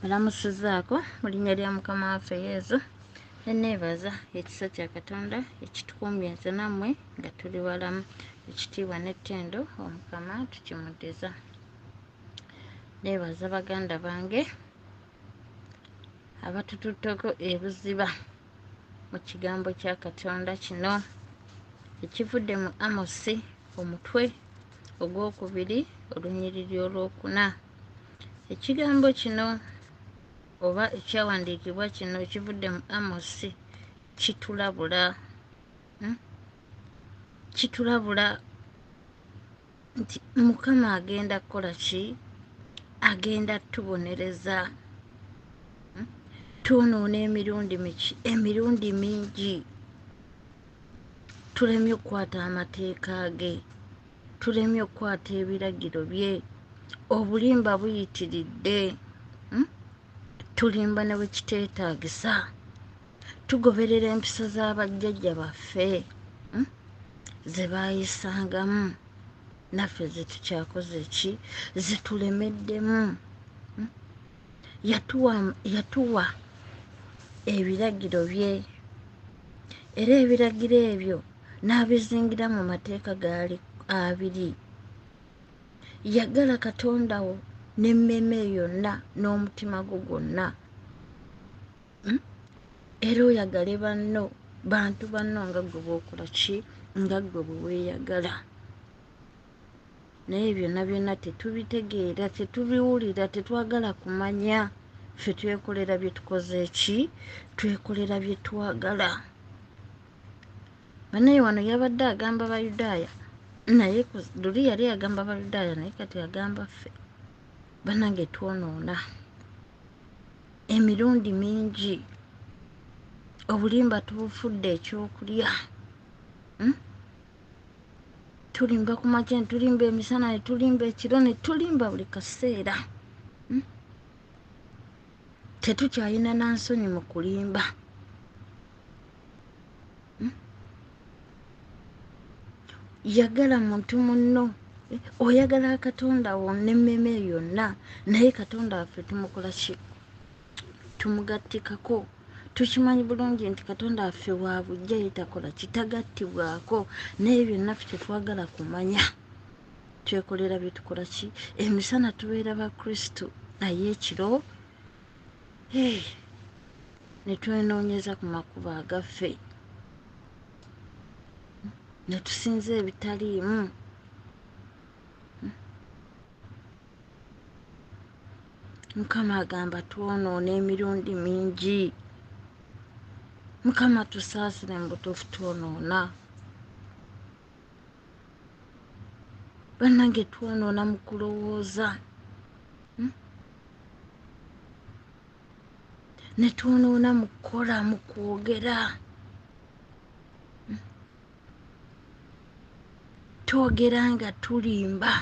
Balamusizaako mu linnya lya Mukama waffe Yezu, ne neebaza ekisa kya Katonda ekitukuumye nze nammwe nga tuli balamu. Ekitiibwa n'ettendo Omukama tukimuddiza. Neebaza baganda bange abatututteko ebuziba. mu kigambo kya katonda kino ekivudde mu amosi omutwe ogwokubiri olunyiriri olwokuna ekigambo kino oba ekyawandiikibwa kino ekivudde mu amosi kitulabula hmm? kitulabula nti mukama agenda kukola ki agenda tubonereza hmm? twonoona emirundi miki emirundi mingi tulemye okukwata amateeka ge tulemye okukwata ebiragiro bye obulimba buyitiridde hmm? tulimba ne bwekiteetagisa tugoberera empisa za bajjajja baffe hmm? ze baayisangamu naffe zetukyakoze ki zetulemeddemu hmm? yatuwa yatuwa ebiragiro bye era ebiragiro ebyo n'abizingira mu mateeka gaali abiri yagala katonda wo n'emmeeme yonna n'omutima gwo gwonna hmm? era oyagale banno bantu banno nga gwe bwokola ki nga gwe bweweyagala naye byonna byonna tetubitegeera tetubiwulira tetwagala kumanya ffe twekolera byetukoze ki twekolera byetwagala banaye wano yabadde agamba bayudaaya naye luli yali agamba bayudaaya naye kati agamba ffe banange twonoona emirundi mingi obulimba tubufudde ekyokulya hmm? tulimba ku makya netulimba emisana netulimba ekiro netulimba buli kaseera hmm? tetukyalina nansonyi mu kulimba hmm? yagala muntu munno eh, oyagala katonda wo nemmeme yonna naye katonda waffe tumukola ki tumugattikako tukimanyi bulungi nti katonda waffe wa bujja yetakola kitagattibwako naye byonna fe tetwagala kumanya twekolera byetukola ki emisana tubeera bakristu naye ekiro ne twenoonyeza ku makubo agaffe ne tusinza ebitaliimu mukama agamba twonoona emirundi mingi mukama tusaasire mu butuufu twonoona bannange twonoona mu kulowooza hmm? ne twonoona mu kukola mu kwogera hmm? twogera nga tulimba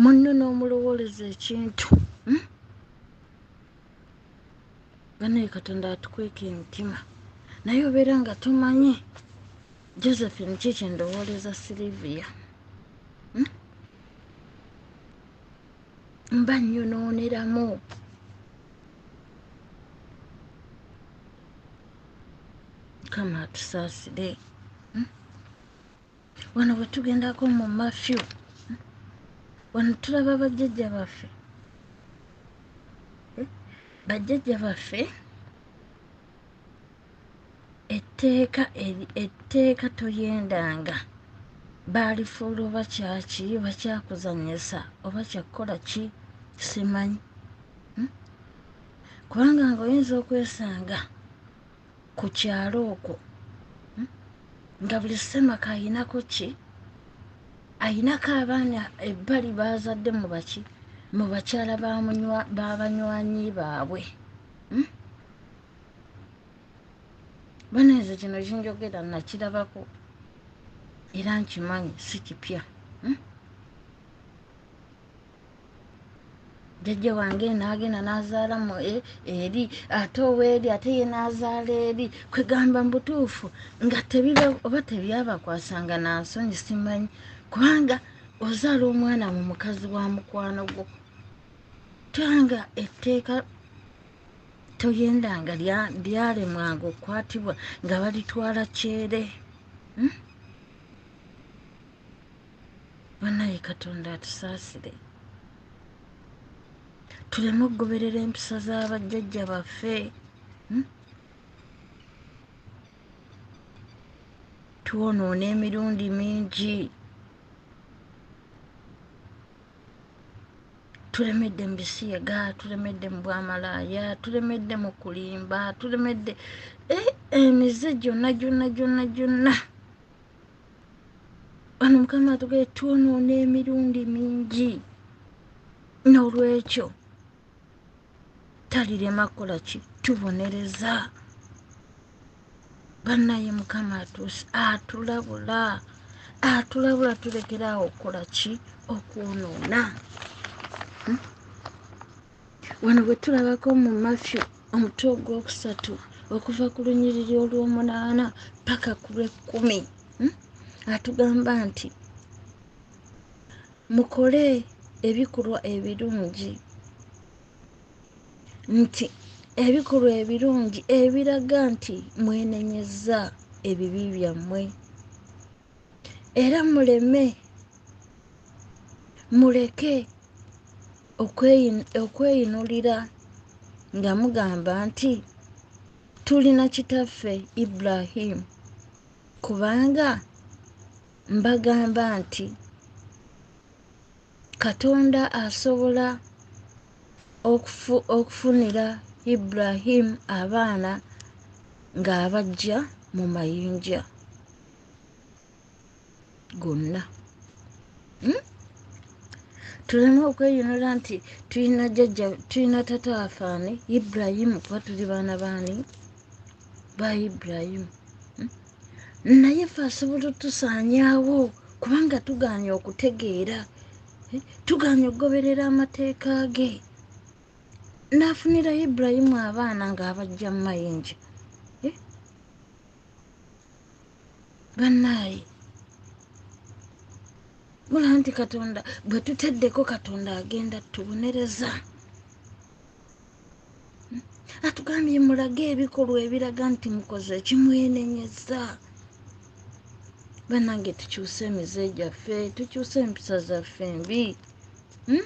munno n'omulowooleza ekintu banaye katonda atukweka emitima naye obeera nga tomanyi josephine ki kyendowooleza silivia hmm? mba nyonooneramu kama atusaasire wano bwetugendako mu mafyu wano tulaba bajjajja baffe eh? bajjajja baffe etteeka etteeka toyendanga baalifuula oba kyaki bakyakuzanyisa oba kyakukola ki simanyi hmm? kubanga ngaoyinza okwesanga ku kyalo okwo hmm? nga buli semaka ayinako ki ayinako abaana ebbali baazadde mu baki mu bakyala babanywanyi baabwe hmm? bana ezo kino kinjogera nakirabako era nkimanyi si kipya hmm? jajja wange nagenda nazaala mu e, eri ate oweeri ate ye nazaala eri kwegamba mubutuufu nga tebiba oba tebyabakwasanga nansonyi simanyi kubanga ozaala omwana mu mukazi wa mukwano gwo tanga etteeka toyenda nga lyalemwanga okukwatibwa nga balitwala kyere hmm? banaye katonda atusaasire tuleme okugoberera empisa za bajjajja baffe hmm? twonoona emirundi mingi tulemedde mu bisiyaga tulemedde mu bwamalaaya tulemedde mu kulimba tulemedde eh, emize gyonna gyonna gyonna gyonna wano mukama atugee twonoona emirundi mingi n'olwekyo talirema kukola ki tubonereza bannaye mukama atulabula atulabula tulekeraawo okukola ki okwonoona wano bwe tulabako mu matthew omutwe ogwokusatu okuva ku lunyiriri olw'omunaana paka ku lw'ekkumi hmm? atugamba nti mukole ebikolwa ebirungi nti ebikolwa ebirungi ebiraga nti mwenenyeza ebibi byammwe era muleme muleke okweyinulira nga mugamba nti tulina kitaffe ibrahimu kubanga mbagamba nti katonda asobola okufu, okufunira ibrahimu abaana ng'abajja mu mayinja gonna hmm? tuleme okweyonera nti tulina jajja tulina tata wafaani iburayimu kuba tuli baana baani ba iburayimu hmm? naye fe asobola otusaanyaawo kubanga tugaanye okutegeera eh, tugaanye okugoberera amateeka ge n'afunira iburayimu abaana ng'abajja mu mayinja bannaaye mula nti katonda bwe tuteddeko katonda agenda tubonereza atugambye mulage ebikolwa ebiraga nti mukoze ekimwenenyeza banange tukyuse emize gyaffe tukyuse empisa zaffe mbi hmm?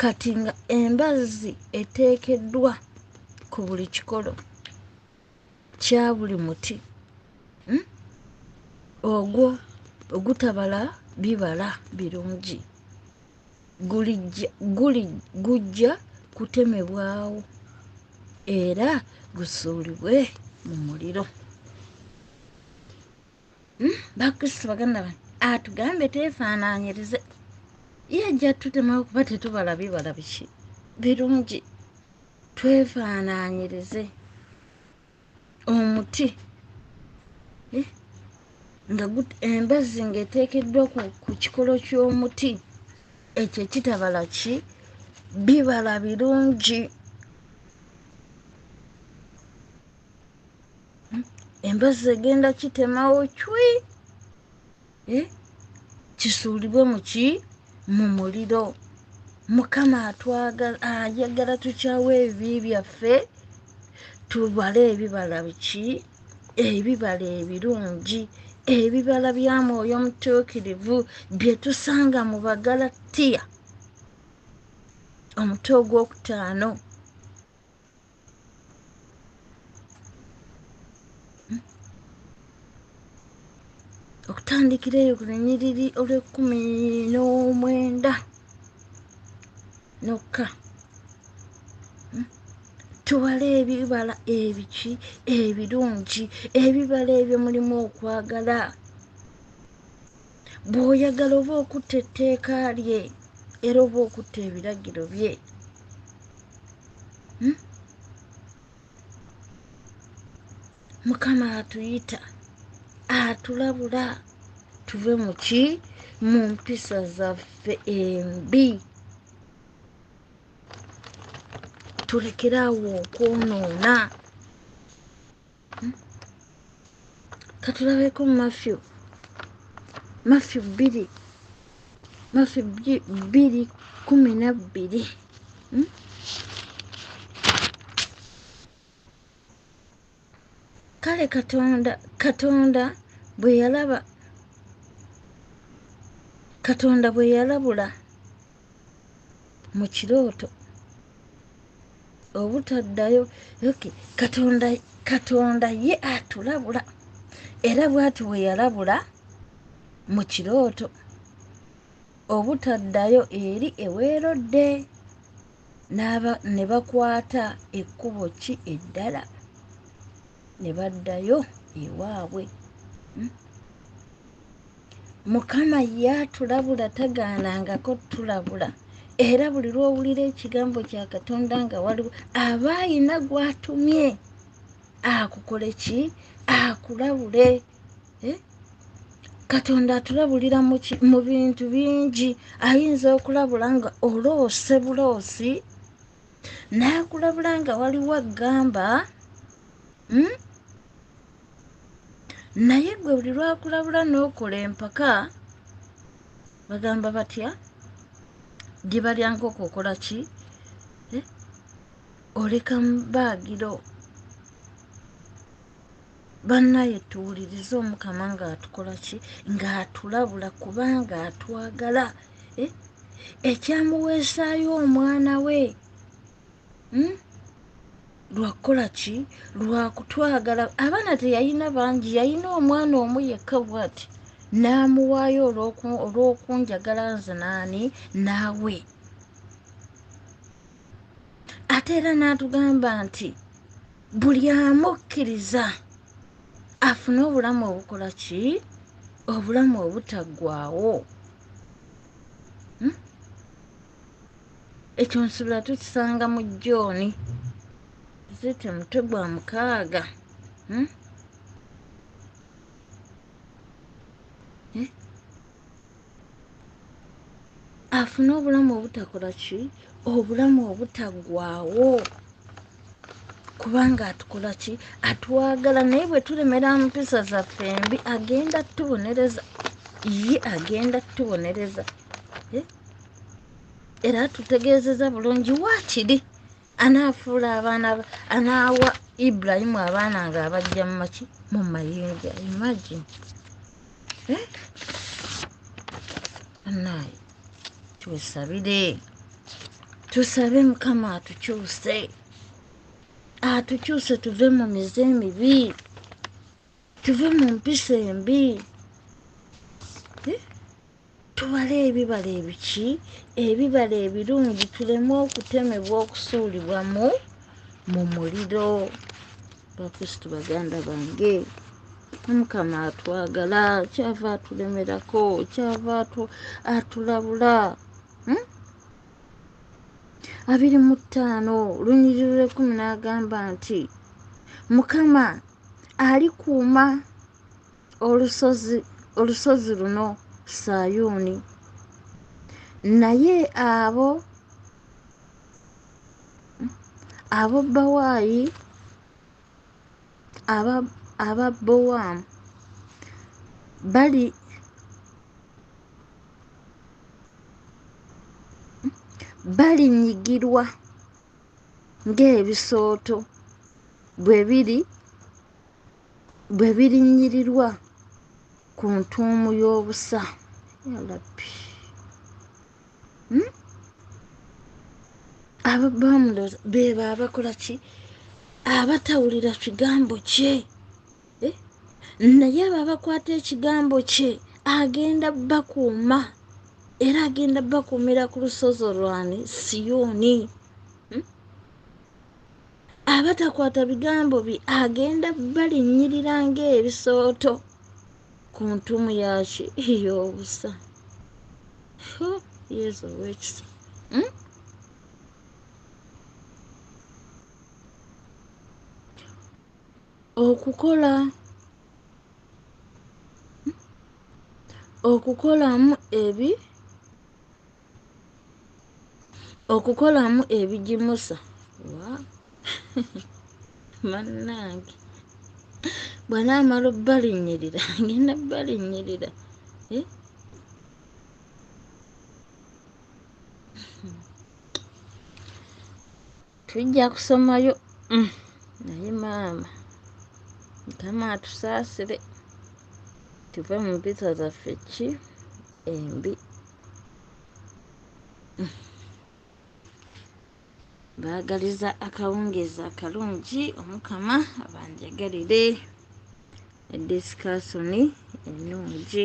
kati nga embazzi eteekeddwa ku buli kikolo kya buli muti hmm? ogwo ogutabala bibala birungi gujja kutemebwawo era gusuulibwe mu muliro hmm? bakristo baganda bange atugambe tefaananyirize yajja tutema okuba tetubala bibala biki birungi twefaananyirize omuti eh? nga embazzi ngaeteekeddwa ku kikolo ky'omuti ekyo ekitabala ki bibala birungi embazi egenda kitemawo cwi eh? kisuulibwe muki mu muliro mukama ayagala tukyawo ebibi byaffe tubale ebibala biki ebibala ebirungi ebibala bya mwoyo omutuukirivu bye tusanga mu bagalatiya omutwe ogwokutaano okutandikira eyo ku lunyiriri olw'ekkumi n'omwenda nokka hmm? tuwala ebibala ebiki ebirungi ebibala ebyo mulimu okwagala bw'oyagala oba okutta etteeka lye era oba okutta ebiragiro bye hmm? mukama atuyita atulabula tuve mu ki mu mpisa zaffe embi tulekere awo okwonoona katulabeko mafyu mafyu bbiri mafyu bbiri kumi nabbiri hmm? kale katonda katonda bwe yalaba katonda bwe yalabula mu kirooto obutaddayo oky katonda katonda ye atulabula era bwati bwe yalabula mu kirooto obutaddayo eri eweerodde ne bakwata ekkubo ki eddala ne baddayo ewaabwe hmm? mukama ye atulabula tagaanangako tulabula era buli lwowulira ekigambo kya katonda nga waliwo aba ayina gwatumye akukole ki akulabule eh? katonda atulabulira mu bintu bingi ayinza okulabula nga oloose buloosi nakulabula nga waliwo agamba hmm? naye gwe buli lwakulabula n'okola empaka bagamba batya diba lya nkoko okola ki eh? oleka mubaagiro bannaye tuwulirize omukama ng'atukola ki ng'atulabula kubanga atwagala eh? ekyamuweesaayo omwana we hmm? lwakukola ki lwakutwagala abaana teyalina bangi yalina omwana omu yekka bwati n'amuwaayo olw'okunjagala nze naani naawe ate era n'atugamba nti buli amukkiriza afune obulamu obukola ki obulamu obutaggwawo ekyo nsubira tukisanga mu jooni zite mutwe gwa mukaaga hmm? eh? afune obulamu obutakola ki obulamu obutaggwawo kubanga atukola ki atwagala naye bwe tulemera mpisa zaffe mbi agenda tubonereza ye agenda tubonereza eh? era atutegeezeza bulungi waakiri anaafuula abaana anaawa ibrahimu abaana nga abajja mumaki mu mayinja imagine eh? anaye twesabire tusabe mukama atukyuse atukyuse tuve mu mize emibi tuve mu mpisa embi eh? tubale ebibala ebiki ebibala ebirungi tuleme okutemebwa okusuulibwa mu mu muliro bakristu baganda bange omukama atwagala kyava atulemerako kyava atulabula hmm? abiri mu ttaano lunyiriro lw'ekkumi n'agamba nti mukama alikuuma olusozi olusozi luno sayuuni naye abo abo bawaayi aba aba bowamu bali balinyigirwa ng'ebisooto bwe biri bwe birinyirirwa ku ntuumu y'obusa yalabbi hmm? abo bamulero beba abakola ki abatawulira kigambo kye eh? naye abo abakwata ekigambo kye agenda bakuuma era agenda bakuumira ku lusozi olwani siyoni hmm? abatakwata bigambo bye agenda balinnyirira ngaebisooto ku ntumu yaki yobusa yesu owekisa hmm? okukola okukolamu ebi okukolamu ebigimusa bannange bwana amala obbalinyirira ngenda bbalinyirira eh? tujja kusomayo mm. naye maama mukama atusaasire tuve mu mpisa zaffe ki embi mm. baagaliza akawungeezi akalungi omukama abanjagalire edisikasoni ennungi